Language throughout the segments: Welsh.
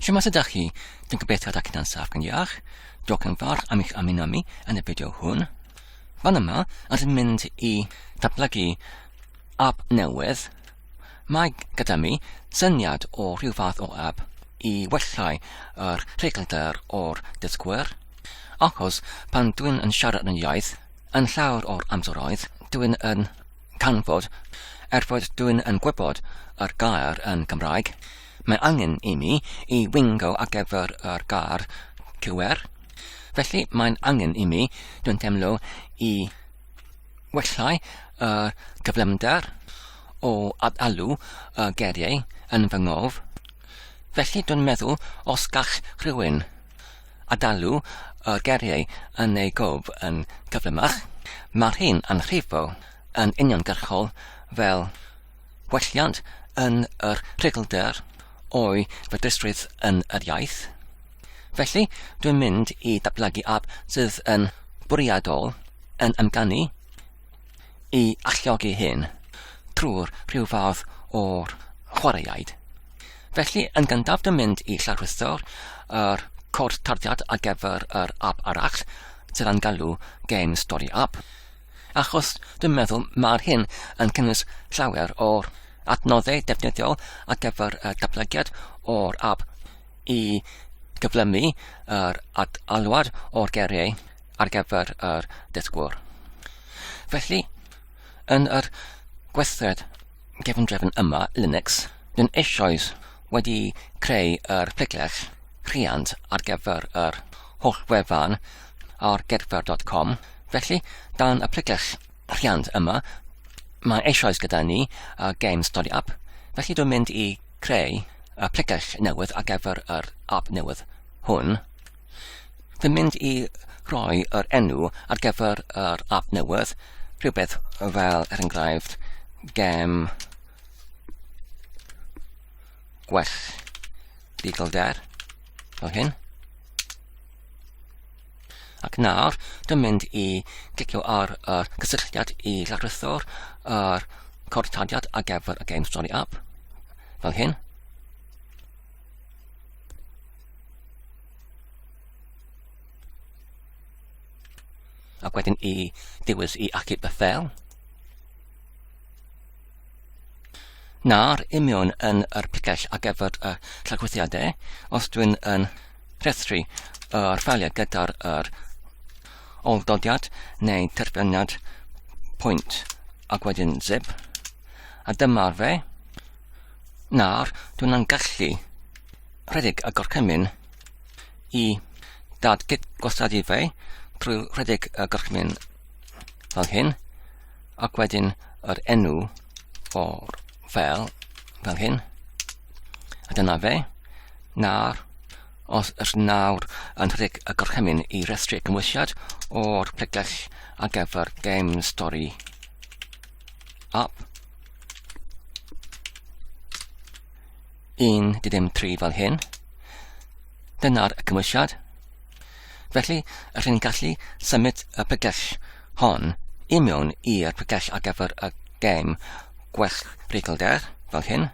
Siwmas ydych chi? Dwi'n gobeithio da cynna'n saff gan iach. Diolch yn fawr am eich amino mi yn y fideo hwn. Fan yma, os yn mynd i datblygu app newydd, mae gyda mi syniad o rhyw fath o app i wellhau yr rheglder o'r dysgwyr. Achos pan dwi'n yn siarad yn iaith, yn llawer o'r amseroedd, dwi'n yn canfod, er fod dyn yn gwybod yr gair yn Gymraeg, mae angen i mi i wingo ar gyfer yr gair QR, felly mae'n angen i mi, dwi'n teimlo, i wellhau y cyflymder o ad-alw y geiriau yn fy ngof, felly dwi'n meddwl os gall rhywun a dalu y geriau yn ei gof yn gyflymach, mae'r hyn a'n rhifo yn uniongyrchol fel gwelliant yn yr rhuglder o'i fedrusrwydd yn yr iaith. Felly, dwi'n mynd i ddatblygu ap sydd yn bwriadol yn amganu i alluogi hyn trwy'r rhyw fath o'r chwaraeaid. Felly, yn gyntaf dy mynd i lawrlwytho'r er cod tarddiad ar gyfer yr app arall, sydd am galw Game Story App, achos dwi'n meddwl mae'r hyn yn cynnwys llawer o'r adnoddau defnyddiol ar gyfer y datblygiad o'r app i gyflymu yr alwad o'r geriau ar gyfer yr dysgwr. Felly, yn yr gweithred gefndrefn yma, Linux, dyn eisoes wedi creu yr plegell rhiant ar gyfer yr holl wefan ar gedfer.com. Felly, dan y plegell rhiant yma, mae eisoes gyda ni uh, Game Study App. Felly, dwi'n mynd i Creu applicash newydd ar gyfer yr app newydd hwn. Dwi'n mynd i roi yr enw ar gyfer yr app newydd, rhywbeth fel er enghraifft gem gwell digelder fel hyn. Ac nawr, dwi'n mynd i glicio ar y cysylltiad i lawrythwr yr cod taliad ar gyfer y Game Story app, fel hyn. Ac wedyn i dewis i achub y ffel. Nawr, imiwn yn yr picell ar gyfer y llagwythiadau, os dwi'n yn rhestru yr ffeiliau gyda'r yr oldodiad neu terfyniad pwynt ac wedyn zip, a dyma'r fe. Nawr, dwi'n yn gallu rhedeg y gorchymyn i dadgyd gwasadu fe trwy rhedeg y gorchymyn fel hyn, Ac wedyn yr enw o'r fel, fel hyn. A dyna fe. Nawr, os ydych nawr yn rhedeg y gorchymyn i restru cymwysiad o'r pregell ar gyfer Game Story App, 1 di ddim 3 fel hyn. Dyna'r cymwysiad. Felly, yr hyn gallu symud y pregell hon i mewn i'r pregell ar gyfer y gem gwell reiglder, fel hyn.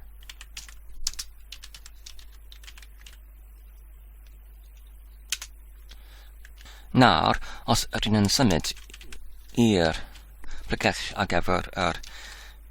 Nawr, os ydyn yn symud i'r pregell ar gyfer yr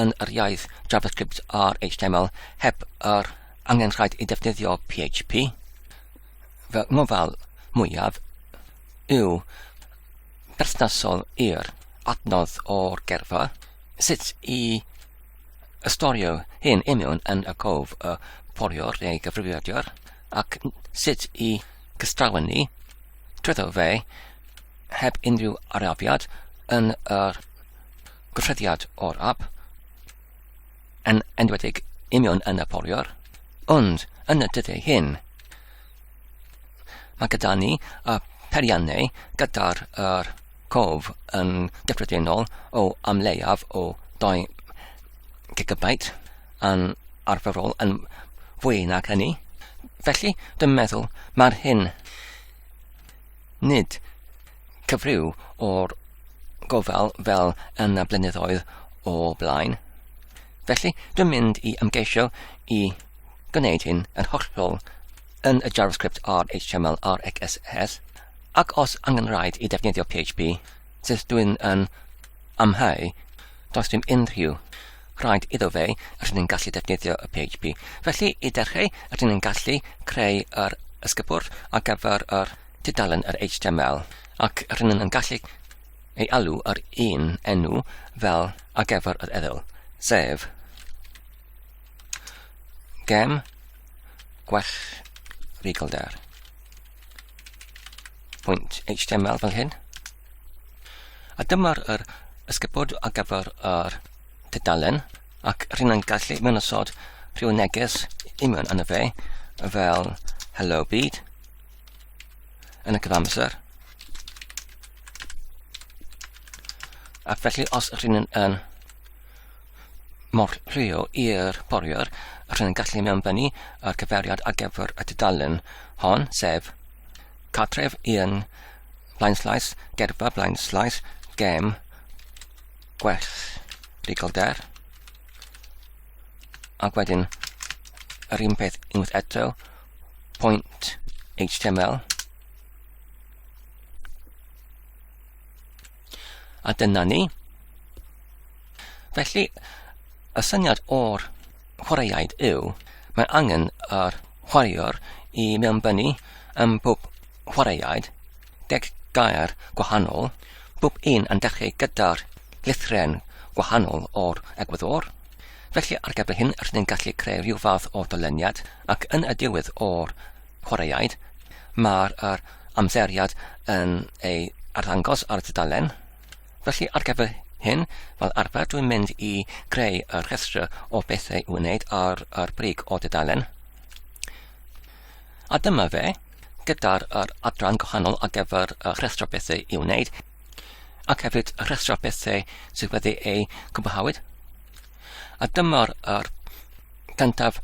yn yr iaith JavaScript a'r HTML heb yr angenrhaid i ddefnyddio PHP. Fy ngofal mwyaf yw berthnasol i'r adnodd o'r gerfa, sut i ystorio hyn imiwn yn y cof y poriwr neu gyfrifiadur, ac sut i gystrawen ni, trwyddo fe, heb unrhyw arafiad yn yr Gosodiad o'r ap, yn enwedig union yn y poliwr, ond yn y dyddiau hyn, mae gyda ni y periannau gyda'r er cof yn gyffredinol o am leiaf o 2 gigabyte yn arferol yn fwy nag hynny. Felly, dwi'n meddwl mae'r hyn nid cyfryw o'r gofal fel yn y blynyddoedd o blaen. Felly, dwi'n mynd i ymgeisio i gwneud hyn yn hollol yn y JavaScript ar HTML ar XSS, ac os angen rhaid i defnyddio PHP, sydd dwi'n yn amhau, does dim unrhyw rhaid iddo fe, rydyn ni'n gallu defnyddio y PHP. Felly, i dechrau, rydyn ni'n gallu creu yr ysgybwrdd ar gyfer yr tudalen yr HTML ac rydyn yn gallu ei alw ar un enw fel ar gyfer yr eddyl, sef gem gwell rigolder. Pwynt HTML fel hyn. A dyma'r yr ysgybod ar gyfer yr tudalen ac rydyn yn gallu mewn osod rhyw neges i mewn yn y fe fel hello byd yn y cyfamser. Ac felly os ydych chi'n yn mor rhio i'r boriwr, ydych chi'n gallu mewn fyny ar cyfeiriad ar gyfer y tudalen hon, sef cartref i'n blaenslais, gerfa blaenslais, gem, gwell legal der. Ac wedyn, yr un peth unwaith eto, point html a dyna ni. Felly, y syniad o'r chwaraeaid yw, mae angen yr chwaraewr i mewnbynnu ym bob chwaraeaid deg gair gwahanol, bob un yn dechrau gyda'r lithren gwahanol o'r egwyddor, Felly, ar gyfer hyn, rydyn ni'n gallu creu rhyw fath o dyleniad, ac yn y diwedd o'r chwaraeaid, mae'r er amseriad yn ei arddangos ar y tudalen. Felly, ar gyfer hyn, fel arfer, dwi'n mynd i greu y rhestr o bethau i'w wneud ar yr brig o dudalen. A dyma fe, gyda'r er adran gwahanol ar gyfer y rhestr o bethau i'w wneud, ac hefyd y rhestr o bethau sydd wedi eu cwblhawyd. A dyma'r er gyntaf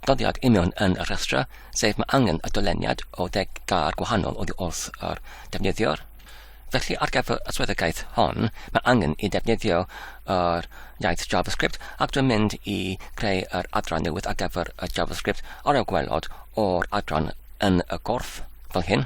doddiad union yn y rhestr, sef mae angen y dyleniad o ddeg gar gwahanol oddi wrth yr defnyddiwr. Felly ar gyfer y swyddogaeth hon, mae angen i ddefnyddio yr iaith JavaScript ac dwi'n mynd i greu yr adran newydd ar gyfer y JavaScript ar y gwelod o'r adran yn y gorff fel hyn.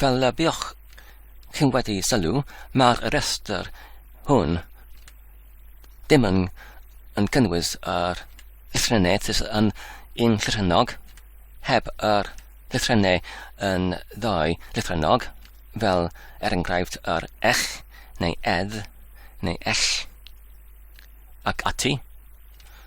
Fel y buoch chi'n wedi sylw, mae'r rhestr hwn ddim yn, yn cynnwys yr llythrennau sydd yn un llythrennog, heb yr llythrennau yn ddau llythrennog, fel er enghraifft yr ech neu edd neu ell ac ati.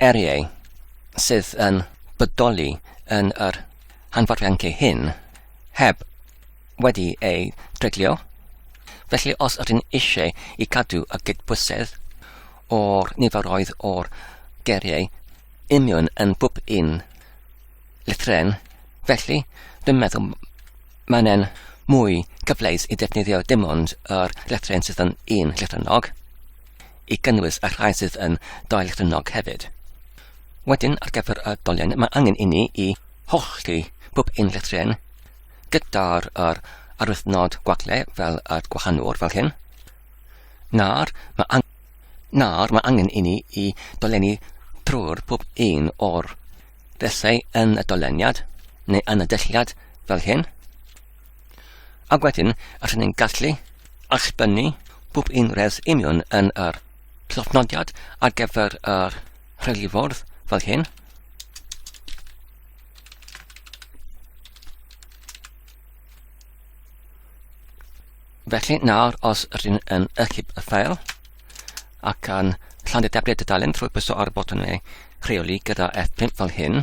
heriau sydd yn bodoli yn yr hanfodiadau hyn heb wedi eu treglio, felly os ydyn eisiau i cadw y cydbwysedd o'r niferoedd o'r geriau union yn bob un llythren, felly dwi'n meddwl mae'n mwy cyfleus i ddefnyddio dim ond yr llythren sydd yn un llythrennog. i gynnwys y rhai sydd yn daeargrynnog hefyd. Wedyn, ar gyfer y dolen, mae angen inni i hollti pob un llethren gyda'r yr arwythnod gwagle fel y gwahanwr fel hyn. Nawr, mae angen Nawr mae angen inni i dolenni trwy'r pob un o'r felly yn y doleniad neu yn y dylliad fel hyn. Ac wedyn, rydyn ni'n gallu allbynnu bob un res union yn yr llofnodiad ar gyfer yr rheiliffordd fel hyn. Felly nawr os rydyn yn ychyb y ffeil ac yn llandu debliad y dalen trwy pwyso ar y botwm neu rheoli gyda F5 fel hyn,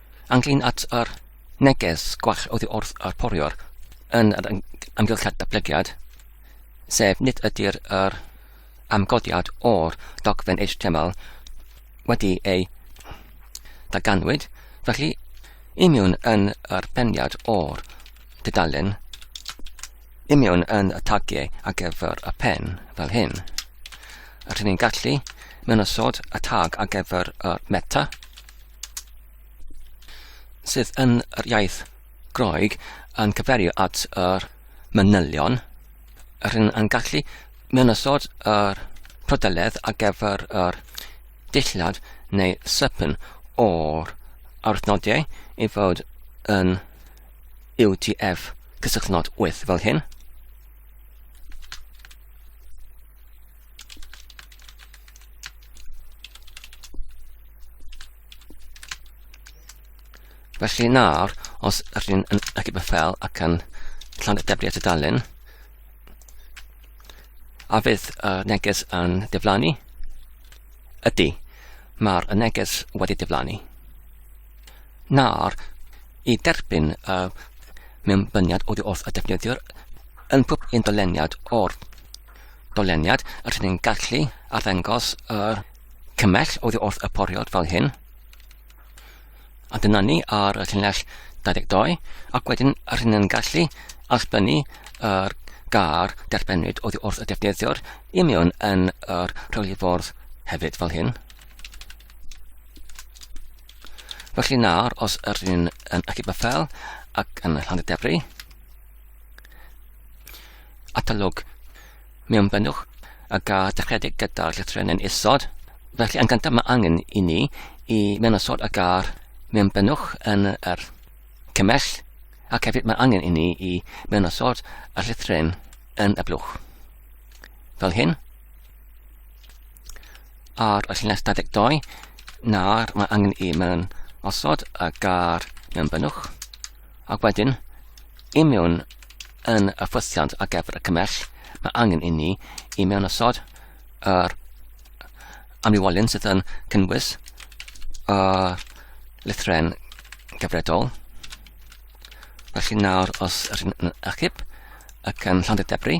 Ynglŷn at yr neges gwell oddi wrth yr poriwr yn yr amgylchiad datblygiad, sef nid ydy'r yr amgodiad o'r dogfen HTML wedi ei daganwyd, felly imiwn yn yr beniad o'r dudalen, imiwn yn y tagiau ar gyfer y pen fel hyn. Rydyn ni'n gallu mynosod y tag ar gyfer y meta, sydd yn yr iaith Groeg yn cyferio at yr manylion, yr hyn yn gallu mewn ysod yr prydeledd ar gyfer yr dillad neu sypyn o'r arwthnodiau i fod yn UTF cysylltnod 8 fel hyn. Felly nawr, os rydyn yn ychydig beth fel ac yn llawn deblu at y dalun, a fydd y neges yn diflannu? Ydy, mae'r neges wedi diflannu. Nawr, i derbyn y mewnbyniad oddi wrth y defnyddiwr yn pob un doleniad o'r Doleniad, rydyn ni'n gallu arddangos yr cymell oddi wrth y poriod fel hyn. A dyna ni ar y llinell 22, ac wedyn rydyn ni'n gallu allbynnu yr gar derbynwyd oddi wrth y defnyddiwr i mewn yn yr rheolifwrdd hefyd fel hyn. Felly nawr, os yr un yn y cybyffel ac yn y llangydefru, Atalog. Mewn bynnwch a ga dechredig gyda'r llythren yn isod, felly yn gyntaf mae angen i ni i mewn isod a gair mewn bynnwch yn yr cymell, ac hefyd mae angen i ni i mewn isod y llythren yn y blwch. Fel hyn. Ar y llinell 22, nawr mae angen i mewn osod y gair mewn bynnwch Ac wedyn, i mewn yn y ffwythiant ar gyfer y cymell, mae angen i ni i mewn osod yr amlywolyn sydd yn cynnwys y lythren gyfredol. Felly nawr, os ydyn yn achub ac yn llawn debri,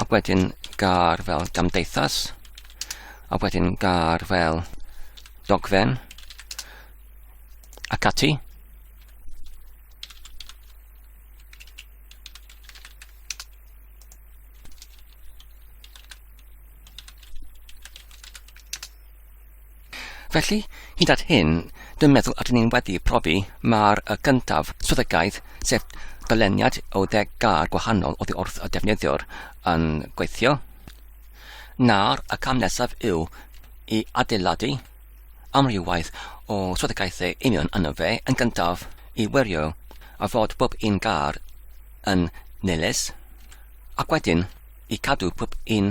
a wedyn gar fel gamdeithas, a wedyn gar fel dogfen, ac ati. Felly, hyd at hyn, dwi'n meddwl ydyn ni'n wedi profi mar y gyntaf swyddogaeth, sef dyleniad o ddeg gar gwahanol oddi wrth y defnyddiwr, yn gweithio. Nawr, y cam nesaf yw i adeiladu amrywaith o swyddogaethau union yno fe yn gyntaf i wirio a fod pob un gar yn nilys, ac wedyn i cadw pob un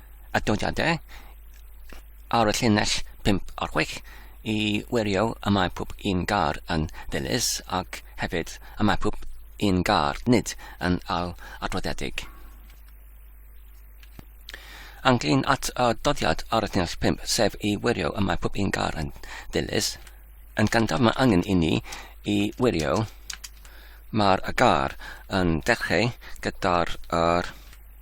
adnodiadau ar y llinell 5 ar 6 i wirio y mae pob un gar yn ddilys ac hefyd y mae pob un gar nid yn al adroddiedig. Anglyn at y doddiad ar y llinell 5, sef i wirio y mae pob un gar yn ddilys. Yn gyntaf mae angen i ni i wirio mae'r gar yn dechrau gyda'r er,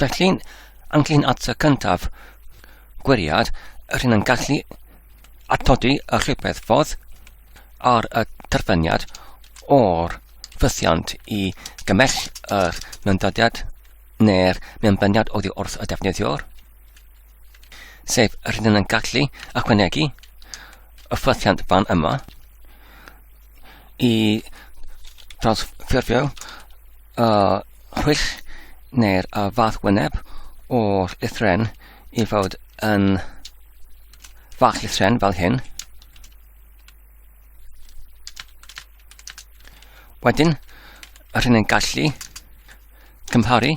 Felly'n anglyn at y cyntaf gwiriad, rhywun yn gallu atodi y rhywbeth fodd ar y terfyniad o'r ffythiant i gymell yr myndodiad neu'r mewnbyniad oddi wrth y defnyddiwr, sef rhywun yn gallu ychwanegu y ffythiant fan yma, i drawsffurfio y rhwyll neu'r y fath wyneb o'r llythren i fod yn fach llythren fel hyn. Wedyn, yr hyn yn gallu cymharu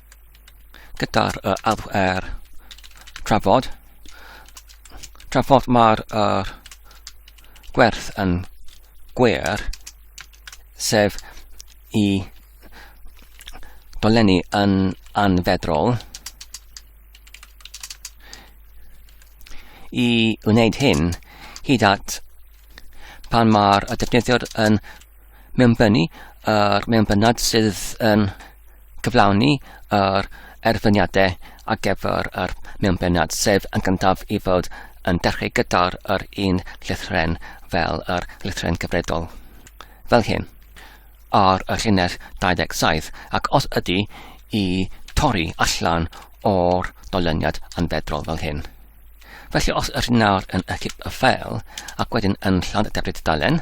gyda'r uh, alw ar trafod. Trafod mae'r uh, gwerth yn gwer, sef i dolenni yn anfedrol. I wneud hyn, hyd at pan mae'r defnyddiwr yn mewn bennu ar mewn bennad sydd yn cyflawni yr erfyniadau ar gyfer yr mewn bennad, sef yn gyntaf i fod yn dechrau gyda'r yr un llythren fel yr llythren cyfredol. Fel hyn, ar y llinell 27, ac os ydy i torri allan o'r dolyniad yn fedrol fel hyn. Felly os yr nawr yn y cip y ffeil ac wedyn yn llawn y debrid dalen,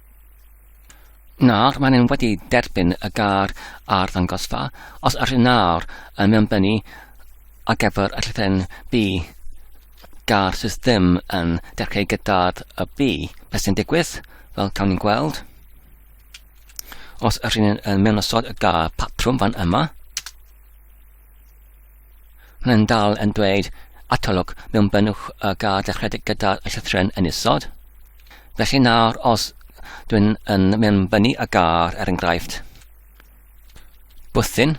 Nawr, maen nhw wedi derbyn y gar a'r ddangosfa. Os ydych chi'n nawr yn mewnbynnu ar gyfer y llythyren B, gar sydd ddim yn dechrau gyda'r y B, beth sy'n digwydd? Wel, cawn ni'n gweld. Os ydych chi'n mewn osod y gar patrwm fan yma, Mae'n dal yn dweud atolwg mewn bynnwch y gad dechredig gyda'r llythren yn isod. Felly nawr, os dwi'n yn mynd fyny y gar, er enghraifft, bwthyn,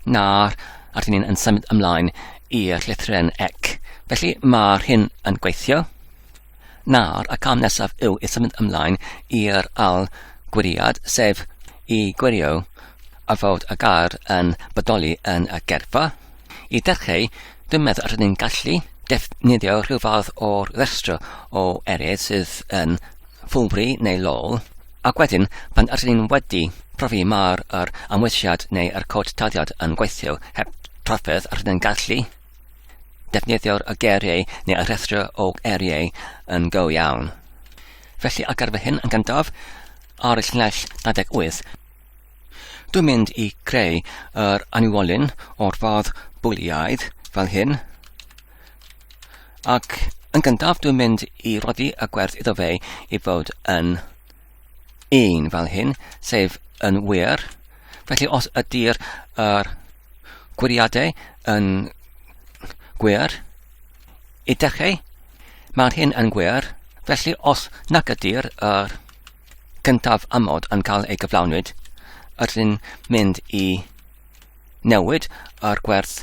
nawr, a dyn ni'n yn symud ymlaen i'r llythren ec. Felly mae'r hyn yn gweithio. Nawr, y cam nesaf yw i symud ymlaen i'r ail gwiriad, sef i gwirio a fod y gair yn bodoli yn y gerfa. I ddechrau, dwi'n meddwl rydyn ni'n gallu defnyddio rhyw fath o'r rhestr o eiriau sydd yn ffwlfri neu lol, ac wedyn, pan ydyn ni'n wedi profi mae'r yr amwysiad neu yr cod taliad yn gweithio heb trafferth, rydyn ni'n gallu Defnyddio'r y geiriau neu y rhestr o eiriau yn go iawn. Felly ar gyfer hyn yn gyntaf, ar y llinell 28, dwi'n mynd i creu yr anwolyn o'r fath bwliaidd fel hyn. Ac yn gyntaf dwi'n mynd i roddi y gwerth iddo fe i fod yn 1 fel hyn, sef yn wir. Felly os ydy'r er, gwiriadau yn gwir, ydych chi, mae'r hyn yn gwir, felly os nac ydy'r er, gyntaf amod yn cael ei gyflawnwyd, ydyn mynd i newid yr gwerth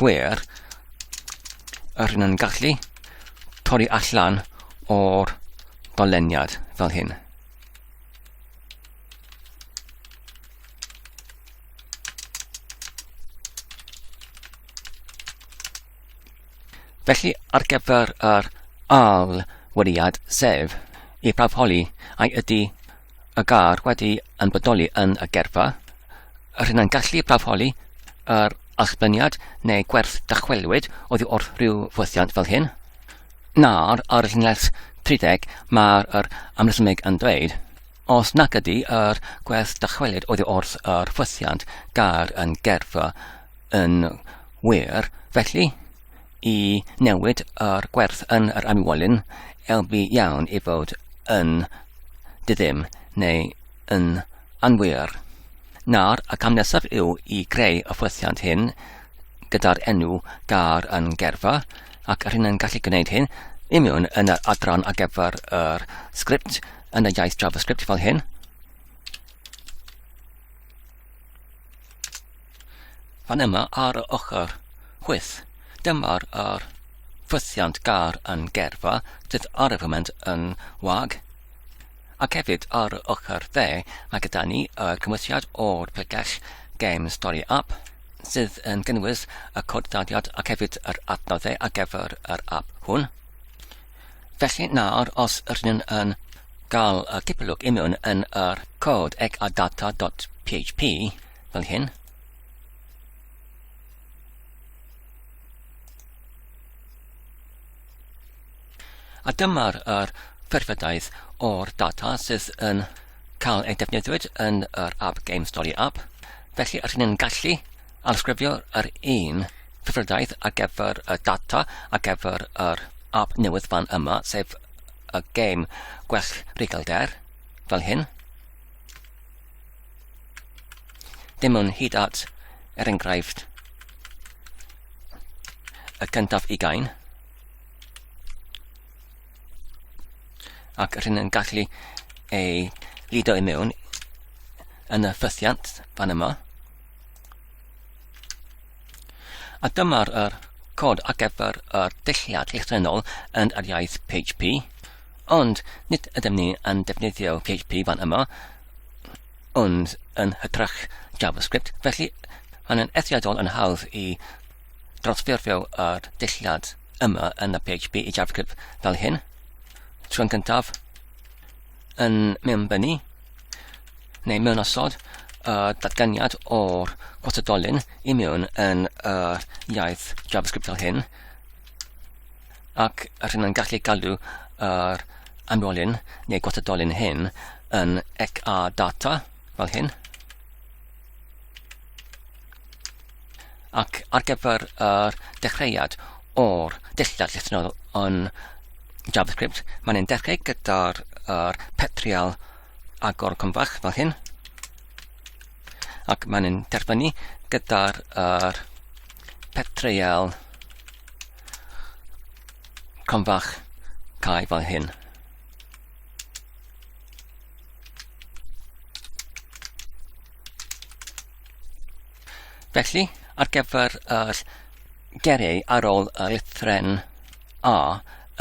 gwer yr hyn yn gallu torri allan o'r doleniad fel hyn. Felly ar gyfer yr al wediad sef i prawfholi ai ydy y gar wedi yn bodoli yn y gerfa, yr hyn yn gallu prafholi yr allbyniad neu gwerth dychwelwyd oddi wrth rhyw fwythiant fel hyn, na'r ar y llinell 30 mae'r yr amresymeg yn dweud, os nac ydy yr gwerth dychwelyd oddi wrth yr ffwythiant gair yn gerfa yn wir, felly i newid yr gwerth yn yr anwolyn, elbu iawn i fod yn diddym neu yn anwir. Nawr, y cam nesaf yw i greu y ffwythiant hyn gyda'r enw gar yn gerfa, ac yr hyn yn gallu gwneud hyn i mewn yn yr adran ar gyfer yr sgript yn y iaith JavaScript fel hyn. Fan yma ar y ochr chwith, dyma'r yr ffwythiant gar yn gerfa, sydd ar y foment yn wag, ac hefyd ar y ochr dde, mae gyda ni y cymwysiad o'r pregell Game Story App, sydd yn gynnwys y cod daliad ac hefyd yr adnoddau ar gyfer yr app hwn. Felly nawr, os rydyn yn gael y cipolwg imiwn yn yr cod ec a data.php, Fel hyn. A dyma'r er perfedaidd o'r data sydd yn cael ei defnyddiwyd yn yr App Game Story app. Felly, rydyn ni'n gallu alsgrifio yr un perfedaidd ar gyfer y data ar gyfer yr app newydd fan yma, sef y game Gwell Regalder, fel hyn. Dim ond hyd at, er enghraifft, y cyntaf ugain, ac rhywun yn gallu ei lido i mewn yn y ffythiant fan yma. A dyma'r er cod ar gyfer yr dulliad llythrennol yn yr iaith PHP, ond nid ydym ni yn defnyddio PHP fan yma, ond yn hytrach JavaScript, felly mae'n yn eithriadol yn hawdd i drosffurfio yr dulliad yma yn y PHP i JavaScript fel hyn. Trwy'n gyntaf yn mewnbynnu neu mewn osod y datganiad o'r gwasodolyn i mewn yn yr iaith JavaScript fel hyn. ac rhyn yn gallu galw yr anwolyn neu gwatadolyn hyn yn ec a data fel hyn. Ac ar gyfer yr dechreuad o'r dillad llythrennol yn JavaScript, mae'n ein dechrau gyda'r er petrial agor cymfach fel hyn. Ac mae'n ein derfynu gyda'r er petrial agor Con fach cae fan hyn. Felly, ar gyfer yr geriau ar ôl y lythren A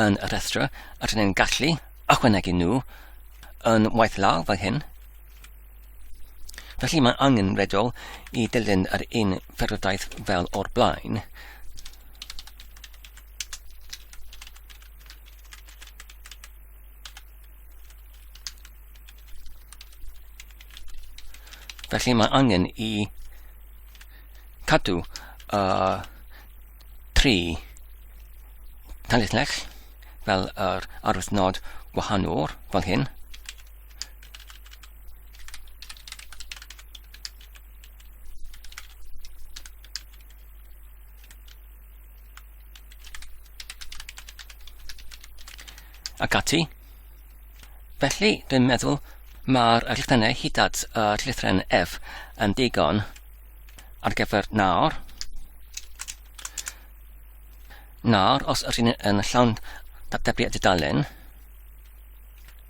yn y rhestr, rydyn ni'n gallu ychwanegu nhw yn waith law fel hyn, Felly mae angen redol i dilyn yr un ffyrwdaeth fel o'r blaen. Felly mae angen i cadw uh, tri tanlithlech fel yr arwydd nod gwahanol fel hyn. ac ati. Felly, dwi'n meddwl mae'r rhithennau hyd at y rhithren F yn digon ar gyfer nawr. Nawr, os ydyn yn llawn datblygu a dudalen,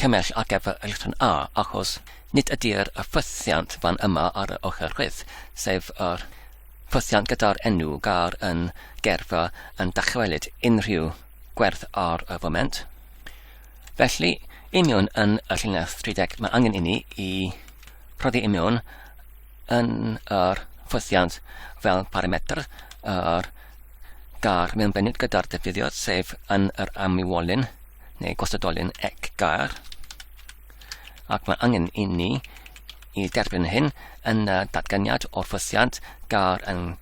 cymell ar gyfer yr rhan A, achos nid ydy'r ffwythiant fan yma ar y ochr chwith, sef yr ffwythiant gyda'r enw gar yn gerfa yn dychwelyd unrhyw gwerth ar y foment. Felly, i mewn yn y llinell 30 mae angen inni i rhoddi i mewn yn yr ffwythiant fel parametr yr gar mewn benyd gyda'r defnyddiwr, sef yn yr amwywolyn, neu gostodolyn ec gar, ac mae angen i ni i derbyn hyn yn y datganiad o'r ffosiant gar yn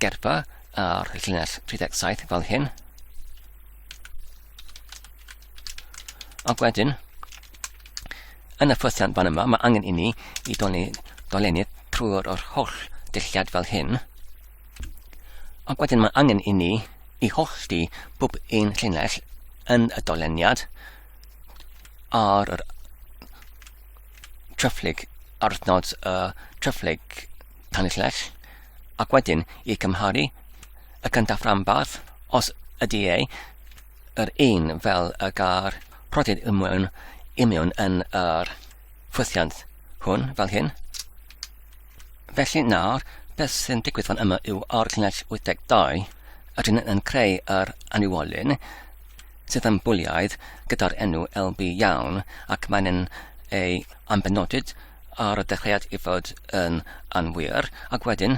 gerpa ar llinell 37 fel hyn. Ac wedyn, yn y ffosiant fan yma, mae angen i ni i dolennu trwy'r holl dulliad fel hyn. Ac wedyn mae angen i ni i hollti bob un llinell yn y doleniad ar yr tryfflyg ar adnod y tryfflyg tanllell ac wedyn i cymharu y cyntaf rhanbarth os ydy e yr un fel y gair rhodid imiwn, imiwn yn yr ffwythiant hwn fel hyn. Felly nawr, beth sy'n digwydd fan yma yw o'r llinell 82, rydyn yn creu yr anniwolyn sydd yn bwliaidd gyda'r enw LB iawn ac mae'n yn ei ambenodyd ar y dechreuad i fod yn anwir ac wedyn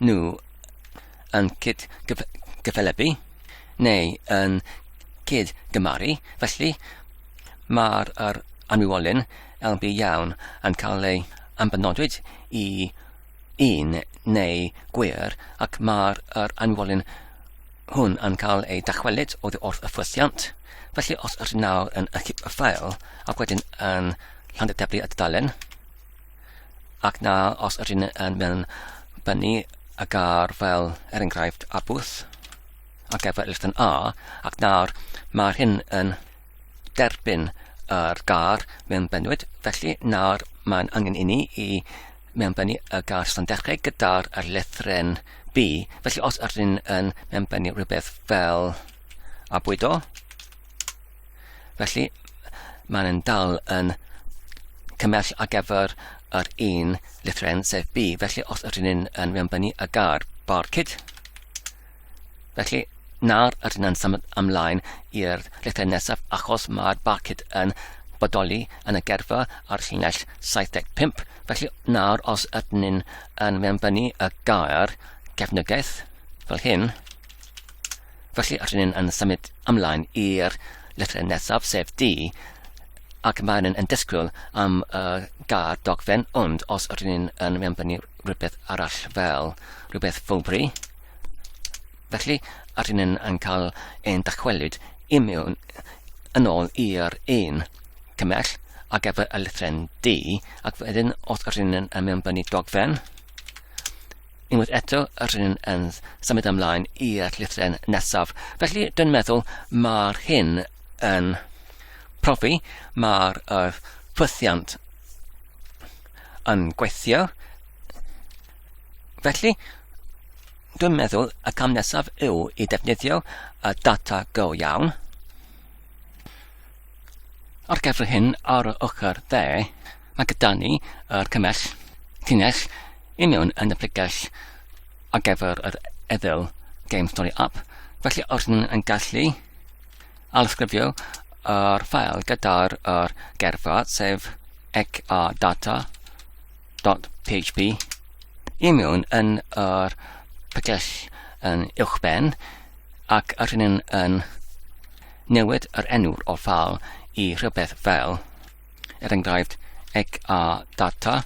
nhw yn cyd-gyfathrebu neu yn cyd-gymaru, felly mae'r yr anwywolyn LB iawn yn cael ei ambanodwyd i un neu gwir ac mae'r yr anwywolyn hwn yn cael ei dychwelyd oddi wrth y ffwythiant. Felly os ydych nawr yn ychydig y ffael ac wedyn yn llandyteblu y dudalen, Ac na os ydyn yn mewn bynu y gar fel er enghraifft a bwth ac efe yn A ac nawr mae'r hyn yn derbyn yr gar mewn bynwyd felly nawr mae'n angen i ni i mewn bynu y gar sy'n dechrau gyda'r lethren B felly os ydyn yn mewn bynu rhywbeth fel a bwydo Felly, mae'n yn dal yn cymell ar gyfer yr un lithren, sef B. Felly, os ydyn ni'n yn rhanbynnu y gair barcud, felly nawr ydyn ni'n symud ymlaen i'r lithren nesaf achos mae'r barcud yn bodoli yn y gerfa ar llinell 75. Felly nawr os ydyn ni'n yn rhanbynnu y gair cefnogaeth fel hyn, Felly rydyn ni'n yn symud ymlaen i'r llythyr nesaf, sef D, ac maen nhw'n yn disgwyl am y gair dogfen, ond os rydyn ni'n yn mewnbynnu rhywbeth arall fel rhywbeth fowbri, felly rydyn ni'n yn cael ein dychwelyd i mewn yn ôl i'r un cymell ar gyfer y llythren D, ac wedyn os rydyn ni'n yn mewnbynnu dogfen, Unwaith eto, rydyn yn symud ymlaen i'r llythren nesaf. Felly, dwi'n meddwl mae'r hyn yn profi, mae'r uh, ffwythiant yn gweithio. Felly, dwi'n meddwl y cam nesaf yw i defnyddio y data go iawn. Ar gyfer hyn, ar y ochr dde, Mae gyda ni yr cymell, llinell, i mewn yn y pregell ar gyfer yr eddyl Game Story App, felly os rydyn yn gallu alysgrifio yr ffael gyda'r er gerfa, sef ecadata.php, i mewn yn yr pregell yn uwch ben, ac yr hyn yn newid yr enw'r o ffal i rhywbeth fel er enghraifft ecrdata.js,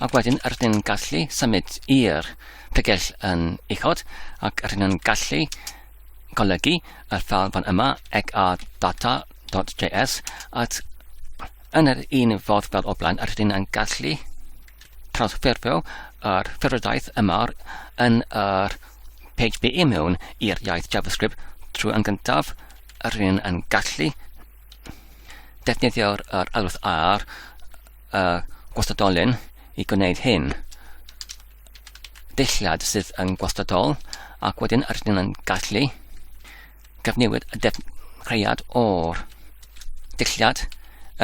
ac wedyn rydyn ni'n gallu symud i'r pregell yn uchod ac rydyn ni'n gallu golygu y ffal fan yma ecrdata.js at yn yr un fodd fel o blaen rydyn ni'n gallu transferio yr ffurfiodaeth yma yn yr PHP i mewn i'r iaith JavaScript trwy yn gyntaf a rhywun yn gallu defnyddio'r yr alwad ar y gwastadolyn i gwneud hyn. Deilliad sydd yn gwastadol ac wedyn yr ydyn yn gallu cyfnewid y defnyddiad o'r deilliad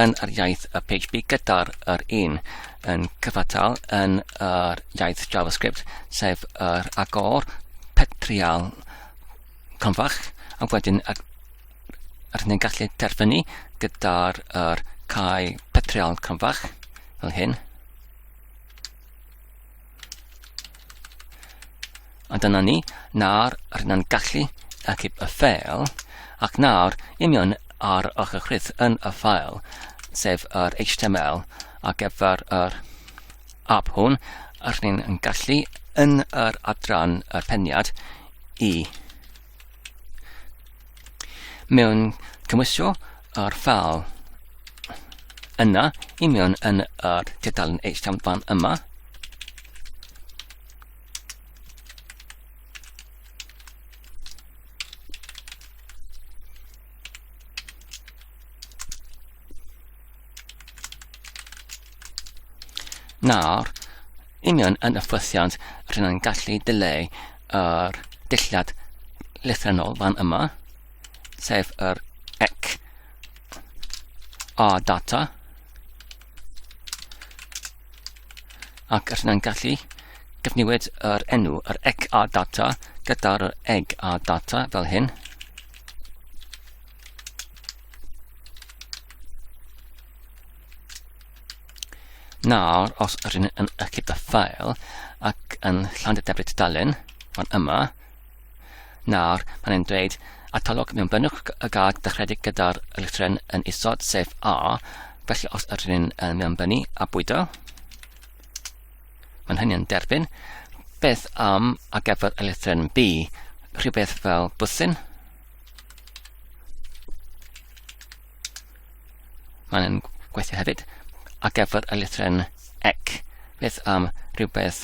yn yr iaith y PHP gyda'r yr un yn cyfatal yn yr iaith JavaScript, sef yr agor petrial Cronfach, a wedyn a, a rydyn ni'n gallu terfynu gyda'r er, cae petriol cronfach, fel hyn. A dyna ni, nawr rydyn ni'n gallu achub y ffeil, ac nawr imion ar ochr chrydd yn y ffael, sef yr HTML ar gyfer yr ap hwn, a rydyn yn gallu yn yr adran y peniad i mewn cymwysio yr ffal yna i mewn yn yr tudalen HTML fan yma. Nawr, union yn y ffwythiant, rydyn ni'n gallu dileu yr dillad lythrenol fan yma, sef yr ec a data, ac rydyn ni'n gallu defnywyd yr enw, yr ec a data, gyda'r eg a data fel hyn, Nawr, os rydyn yn ychydig y ffael ac yn llan y debyd dalen, fan yma, nawr, mae'n ein dweud atalog mewn bynnwch y gad dechredig gyda'r lythren yn isod, sef A, felly os rydyn yn mewn bynu a bwydo, mae'n hynny yn derbyn, beth am a gyfer y lythren B, rhywbeth fel bwthyn, Mae'n gweithio hefyd ar gyfer y lythren ec. Beth am rhywbeth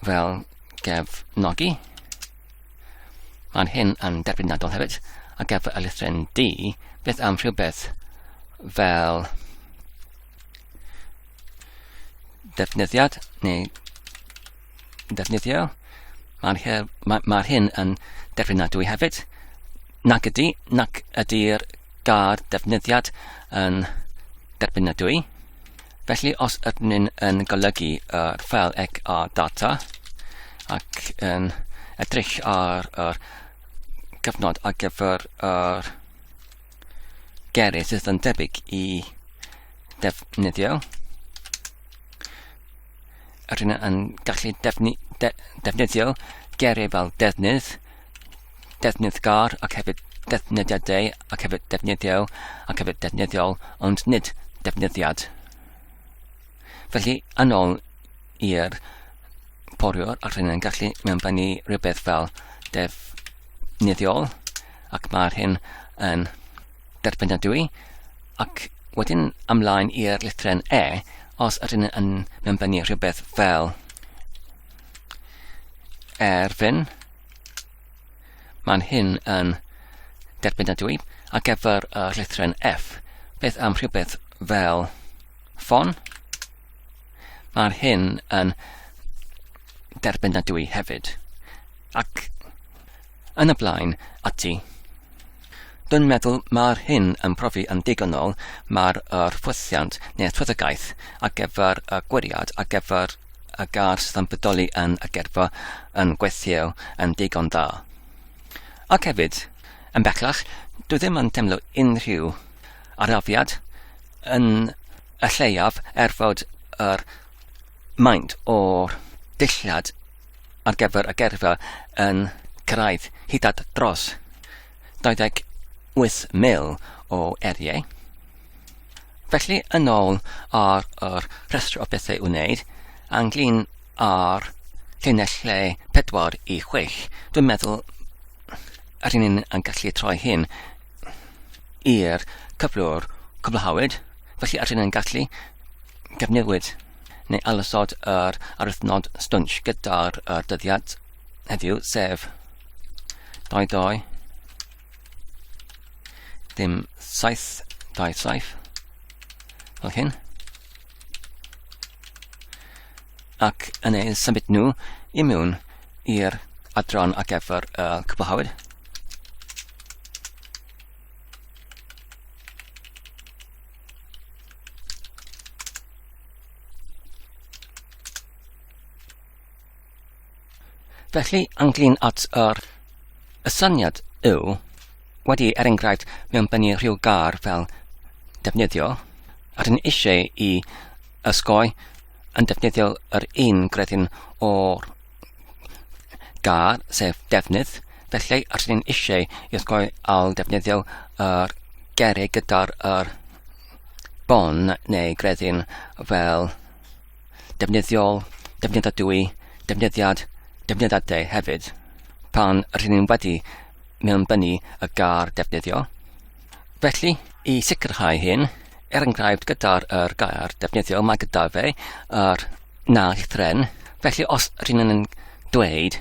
fel gefnogi? Mae'n hyn yn derbynadol hefyd ar gyfer y lythren D. Beth am rhywbeth fel defnyddiad neu yn defnyddiol. Mae'r her, mae, mae hyn yn declinadwy hefyd. Nac ydy, nac ydy'r gair defnyddiad yn derbynadwy. Felly os ydyn ni'n yn golygu yr ffel ec ar data ac yn edrych ar yr cyfnod ar gyfer yr gerydd sydd yn debyg i defnyddiol, rydyn yn gallu defni, de, defnyddio geiriau fel defnydd, defnydd gar ac hefyd defnyddiadau ac hefyd defnyddio ac hefyd defnyddiol ond nid defnyddiad. Felly, yn ôl i'r poriwr ac rydyn yn gallu mewnbynnu rhywbeth fel defnyddiol ac mae'r hyn yn derbynadwy, ac wedyn ymlaen i'r lithren E, os ydyn ni yn mewnbennu rhywbeth fel erfyn, mae'n hyn yn derbynadwy ar gyfer y lithren F. Beth am rhywbeth fel ffon? Mae'r hyn yn derbynadwy hefyd. Ac Yn y blaen, ati. Dwi'n meddwl mae'r hyn yn profi yn ddigonol, mae'r yr ffwythiant neu'r ffyddogaeth ar gyfer y gwiriad ar gyfer y gar sydd yn bodoli yn y gerfa yn gweithio yn digon da. Ac hefyd, yn bellach, dwi ddim yn teimlo unrhyw arafiad yn y lleiaf er fod yr maint o'r dulliad ar gyfer y gerfio yn cyrraedd hyd at dros 28,000 o eriau. Felly, yn ôl ar yr rhestr o bethau wneud, anglyn ar lle 4 i 6, dwi'n meddwl yr un ni'n yn gallu troi hyn i'r cyflwr cwblhawyd, felly yr un yn gallu gyfnewid neu alysod yr aruthnod stwnsh gyda'r er dyddiad heddiw, sef 22 dim 7 dau saif fel hyn ac yn ei symud nhw i mewn i'r adran ar gyfer y cwblhawyd. Felly, ynglyn at yr y syniad yw, wedi er enghraifft mewn bennu rhyw gar fel defnyddio, rydyn eisiau i ysgoi yn defnyddio yr un gredyn o'r gar, sef defnydd, felly os ni'n eisiau i osgoi al defnyddio yr gerig gyda'r er bon neu gredyn fel defnyddiol, defnyddadwy, defnyddiad, defnyddadau hefyd. Pan rydyn ni'n wedi mewnbynnu y gar defnyddio, Felly, i sicrhau hyn, er enghraifft gyda'r er gair defnyddio mae gyda fe a'r na llythren, felly os rydyn yn dweud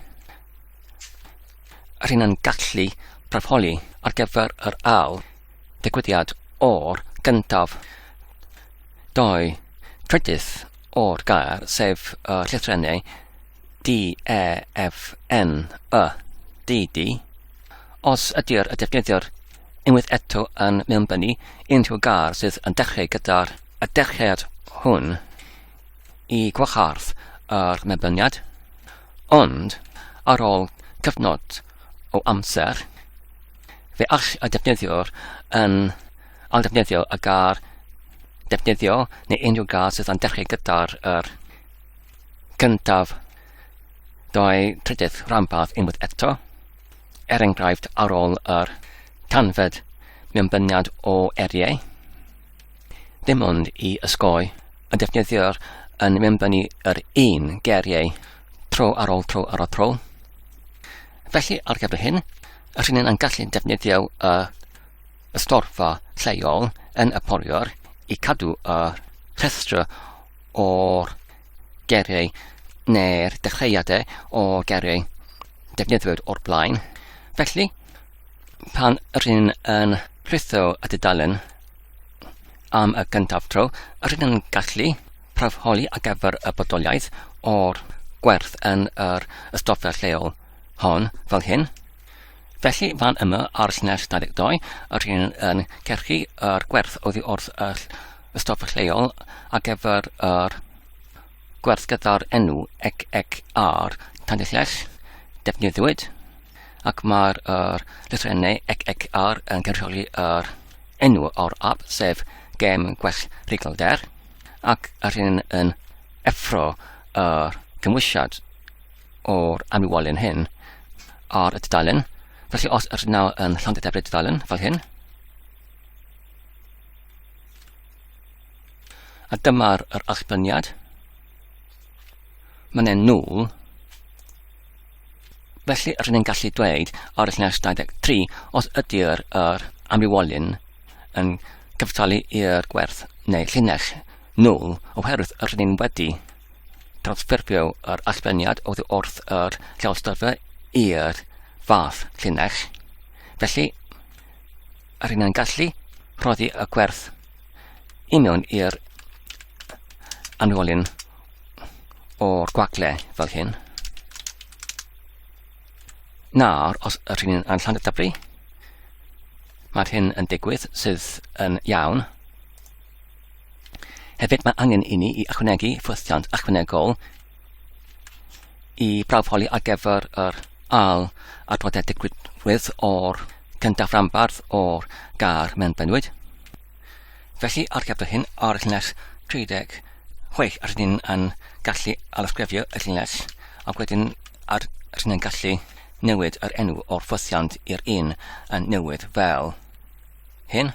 rydyn yn gallu parholi ar gyfer yr ail ddigwyddiad o'r gyntaf doi trydydd o'r gair, sef y llythrennau D, E, F, N, Y, D, D, Os ydy'r y defnyddiwr unwaith eto yn mewnbynnu unrhyw gar sydd yn dechrau gyda'r y dechreuad hwn i gwahardd yr mewnbyniad, ond ar ôl cyfnod o amser, fe all y defnyddiwr yn aildefnyddio y gar defnyddio neu unrhyw gar sydd yn dechrau gyda'r yr cyntaf Dau trydydd rhanbarth unwaith eto, er enghraifft ar ôl yr tanfed mewnbyniad o eriau, ddim ond i ysgoi y defnyddiwr yn mewnbynnu yr un geriau tro ar ôl tro ar ôl tro. Felly, ar gyfer hyn, yr hyn yn gallu defnyddio y, y storfa lleol yn y poriwr i cadw y rhestr o'r geiriau neu'r dechreuadau o geiriau defnyddiwyd o'r blaen. Felly, pan rydyn yn rhitho y dudalen am y gyntaf tro, rydyn yn gallu prawfholi ar gyfer y bodoliaeth o'r gwerth yn yr ystoffa lleol hon fel hyn. Felly, fan yma ar llinell 22, rydyn yn cerchu yr gwerth oddi wrth y y stop lleol ar gyfer yr gwerth gyda'r enw ec ec ar Tanillell defnyddiwyd ac mae'r er, lythrennau ec ec ar yn cynrychioli yr enw o'r app sef gem gwell rhigalder ac yr hyn yn effro y cymwysiad o'r amlywolyn hyn ar y dudalen. Felly os yr nawr yn llond y debrid dudalen fel hyn, A dyma'r yr allbyniad. Mae'n e'n nôl. Felly, rydyn ni'n gallu dweud ar y llinell 23 os ydy'r yr amrywolyn yn cyftalu i'r gwerth neu llinell nôl oherwydd rydyn ni'n wedi transferfio yr allbeniad oddi wrth yr llawysgrifau i'r fath llinell. Felly, a rydyn ni'n gallu rhoddi y gwerth i mewn i'r anwolyn o'r gwagle fel hyn. Nawr, os rydyn ni'n anllan y dyblu, mae'r hyn yn digwydd sydd yn iawn. Hefyd mae angen i ni i ychwanegu ffwythiant ychwanegol i brawfoli ar gyfer yr AL adroddiad digwydd o'r cyntaf rambardd o'r gar mewn bynwyd. Felly, ar gyfer hyn, ar y llinell 36, ar ni'n yn gallu alysgrifio y llinell, ac wedyn ar rydyn yn gallu newid yr enw o'r ffosiant i'r un yn newydd fel hyn.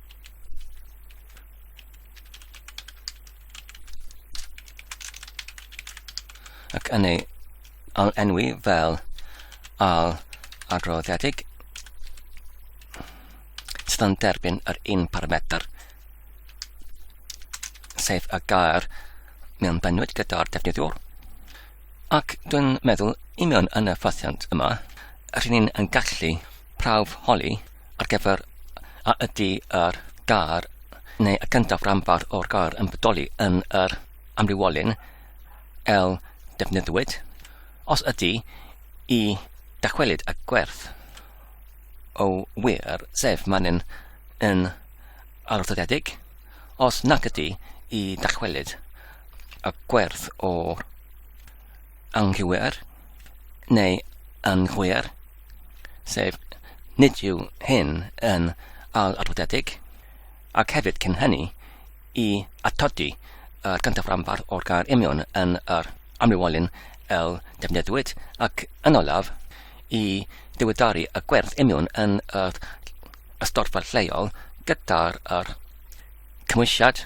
ac yn ei enwi fel al adroddiedig sydd yn derbyn yr un parametr sef y gair mewn bennwyd gyda'r defnyddiwr ac dwi'n meddwl union yn y ffasiant yma rydyn ni'n gallu prawf holi ar gyfer a ydy yr gair neu y gyntaf ranbarth o'r gair yn bodoli yn yr amrywiolyn el defnyddiwyd. Os ydy, i dachwelyd y gwerth o wir, sef manyn yn arddyddiedig, os nac ydy, i dachwelyd y gwerth o anghywir neu yn glir, sef nid yw hyn yn ail-arwyddedig, ac hefyd cyn hynny i atodi y cyntaf rhanbarth o'r gair union yn yr amrywiolyn el defnyddiwyd, ac yn olaf, i ddiweddaru y gwerth union yn yr ystodfa lleol gyda'r cymwysiad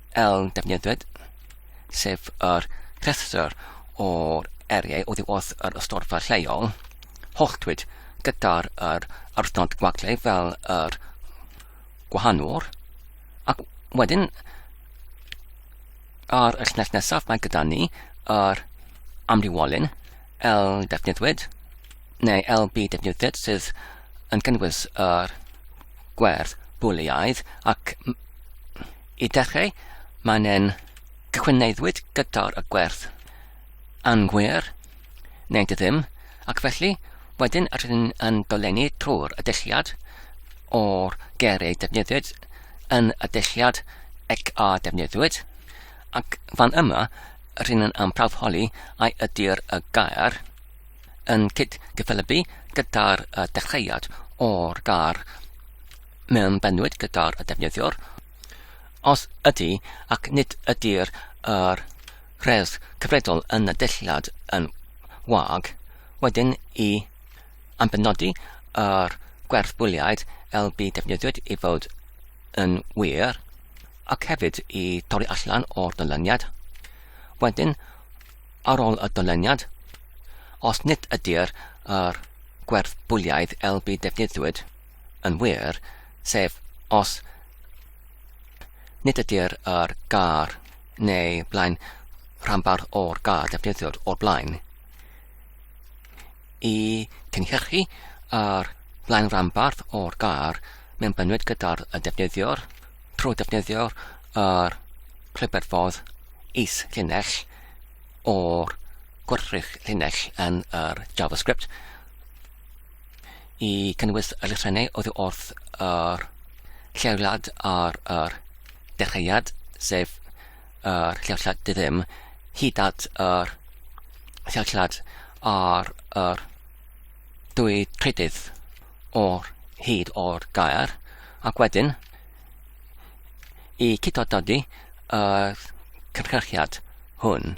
Eln defnyddiwyd, sef yr rhestr o'r eriau oddi wrth yr ystorfa lleol, holltwyd gyda'r yr arthnod gwagle fel yr gwahanwr, ac wedyn ar y llinell nesaf mae gyda ni yr amrywolyn, L defnyddiwyd, neu LB defnyddiwyd sydd yn gynnwys yr gwerth bwliaidd ac Y dechrau, mae'n en cyhwyneiddwyd gyda'r y gwerth. Anghwir, neu dy ddim, ac felly, wedyn rydyn yn dolenni trwy'r addesiad o'r ger ei defnyddiwyd yn y addesiad ec a defnyddiwyd, ac fan yma rydyn yn amprafholi ai ydy'r y gair yn cyd-gyffelybu gyda'r y dechreuad o'r gair mewn benwyd gyda'r defnyddiwr, os ydy ac nid ydy'r yr rhes cyfredol yn y dulliad yn wag, wedyn i ambenodi yr gwerth bwliaid LB defnyddiwyd i fod yn wir, ac hefyd i torri allan o'r dyluniad. Wedyn, ar ôl y dyluniad, os nid ydy'r yr gwerth bwliaidd LB defnyddiwyd, yn wir, sef os nid ydy'r yr gar neu blaen rhanbarth o'r gar defnyddiwyd o'r blaen i cynhyrchu ar blaen rhanbarth o'r gar mewn bynwyd gyda'r y defnyddiwr trwy defnyddio'r yr clyberfodd is llinell o'r gwrthrych llinell yn yr JavaScript i cynnwys yr elusennau oddi wrth yr lleoliad ar yr dechreuad, sef yr lleoliad dy ddim, hyd at yr lleoliad ar yr dwy trydydd o'r hyd o'r gair, ac wedyn i cydododi y cynhyrchiad hwn.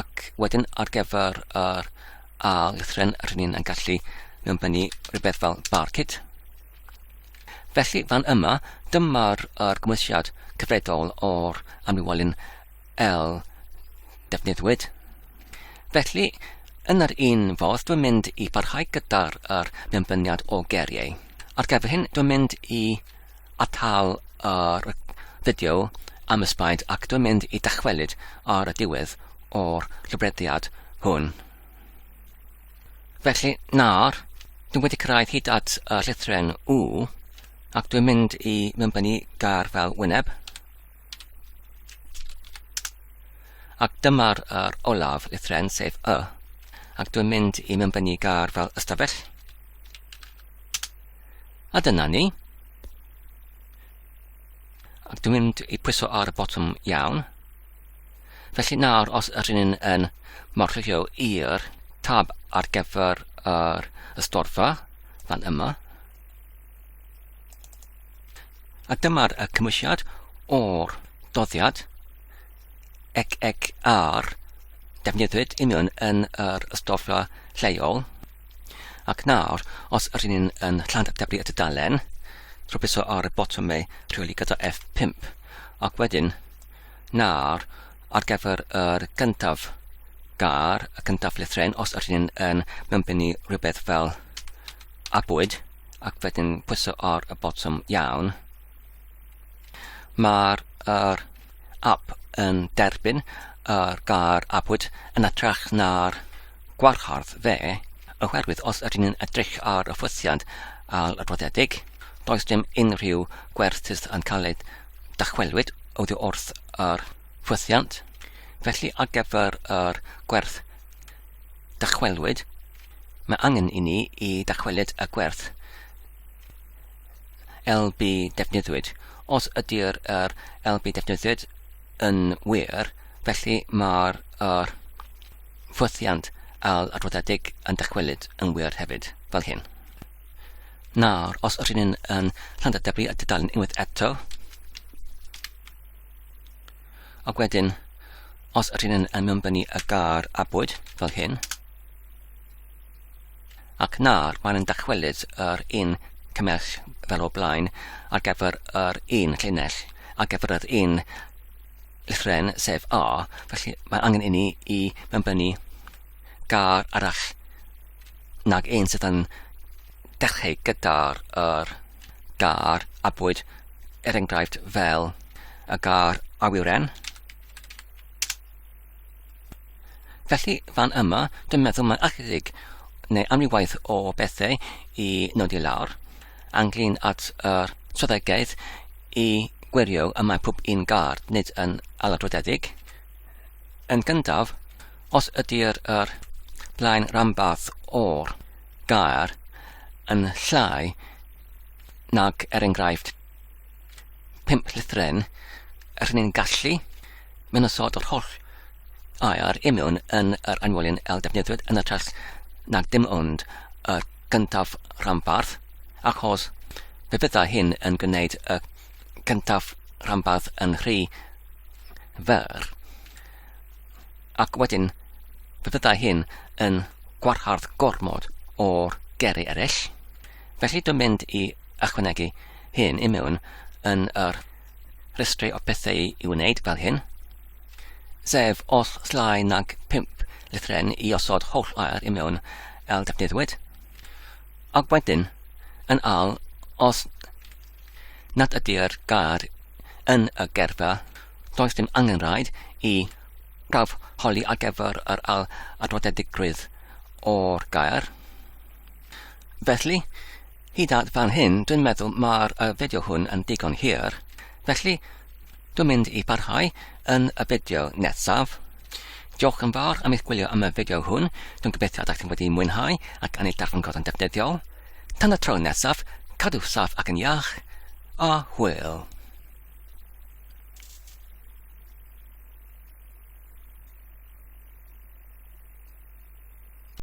ac wedyn ar gyfer yr A lythren rydyn ni'n yn gallu mewnbynnu rhywbeth fel barcud. Felly fan yma, dyma'r er gymwysiad cyfredol o'r amlywolyn L defnyddiwyd. Felly, yn yr un fodd, dwi'n mynd i barhau gyda'r er mewnbyniad o geriau. Ar gyfer hyn, dwi'n mynd i atal yr fideo am ysbaid ac dwi'n mynd i dychwelyd ar y diwedd o'r llofruddiad hwn. Felly, nawr, dwi'n wedi cyrraedd hyd at y llythren U, ac dwi'n mynd i mymbynnu gar fel wyneb. Ac dyma'r er olaf llythren, sef Y, ac dwi'n mynd i mymbynnu gar fel ystafell. A dyna ni. Ac dwi'n mynd i pwyso ar y botwm iawn. Felly nawr, os ydyn ni'n yn marchio i'r tab ar gyfer yr ystorfa, fan yma. A dyma'r y cymwysiad o'r doddiad ec ec ar defnyddiwyd union yn yr ystorfa lleol. Ac nawr, os ydyn ni'n yn llantdyblu y tudalen, rhwbwyso ar y botwm ei rheoli gyda F5. Ac wedyn, nawr, ar gyfer yr gyntaf gar, y cyntaf lythren, os ydyn ni'n yn mymbynnu rhywbeth fel abwyd, ac wedyn pwyso ar y botwm iawn. Mae'r er, app yn derbyn yr er gair abwyd yn atrach na'r Gwahardd fe, oherwydd os ydyn ni'n edrych ar y ffwythiant ail-adroddiedig, does dim unrhyw gwerthuso yn cael ei dychwelyd oddi wrth yr ffwythiant, felly ar gyfer yr gwerth dychwelyd, mae angen i ni i dychwelyd y gwerth LB defnyddiwyd. Os ydy'r er LB defnyddiwyd yn wir, felly mae'r er Ffwythiant al adroddiedig yn dychwelyd yn wir hefyd, fel hyn. Nawr, os yr hyn yn Llandadeblu a dudalen unwaith eto, ac wedyn, os yr hyn yn mewnbynnu y gar a bwyd, fel hyn, ac nawr mae'n yn dychwelyd yr un cymell fel o blaen ar gyfer yr un llinell, ar gyfer yr un Lythren sef A, felly mae angen inni i mewnbynnu gar arall nag ein sydd yn dechrau gyda'r yr gar a bwyd er enghraifft fel y gar awyren Felly, fan yma, dwi'n meddwl mae'n alledig neu amrywaith o bethau i nodi lawr, anglyn at yr swyddogaeth i gwirio y mae pob un gard nid yn aladrodedig. Yn gyntaf, os ydy'r yr blaen rhanbarth o'r gair yn llai nag er enghraifft pump llythren, rŷn ni'n gallu mynd yn sod o'r holl air i mewn yn yr anwelyn el defnyddiwyd yn y test nag dim ond y gyntaf rhanbarth, achos fe fydda hyn yn gwneud y cyntaf rhanbarth yn rhy fer, ac wedyn fe fydda hyn yn gwarhardd gormod o'r geri eraill. Felly dwi'n mynd i ychwanegu hyn i mewn yn yr rhestri o bethau i wneud fel hyn, sef os llai nag 5 lythren i osod holl air i mewn el defnyddiwyd, ac wedyn yn al os nad ydy'r gair yn y gerfa, does dim angen rhaid i prawf holi ar gyfer yr al adrodedigrwydd o'r gair. Felly, hyd at fan hyn, dwi'n meddwl mae'r uh, fideo hwn yn digon hir. Felly, dwi'n mynd i barhau yn y fideo nesaf. Diolch yn fawr am eich gwylio am y fideo hwn. Dwi'n gobeithio ydych chi'n wedi mwynhau ac yn ei darllen gorau'n defnyddiol. Tan y tro nesaf, cadw saff ac yn iach, a hwyl.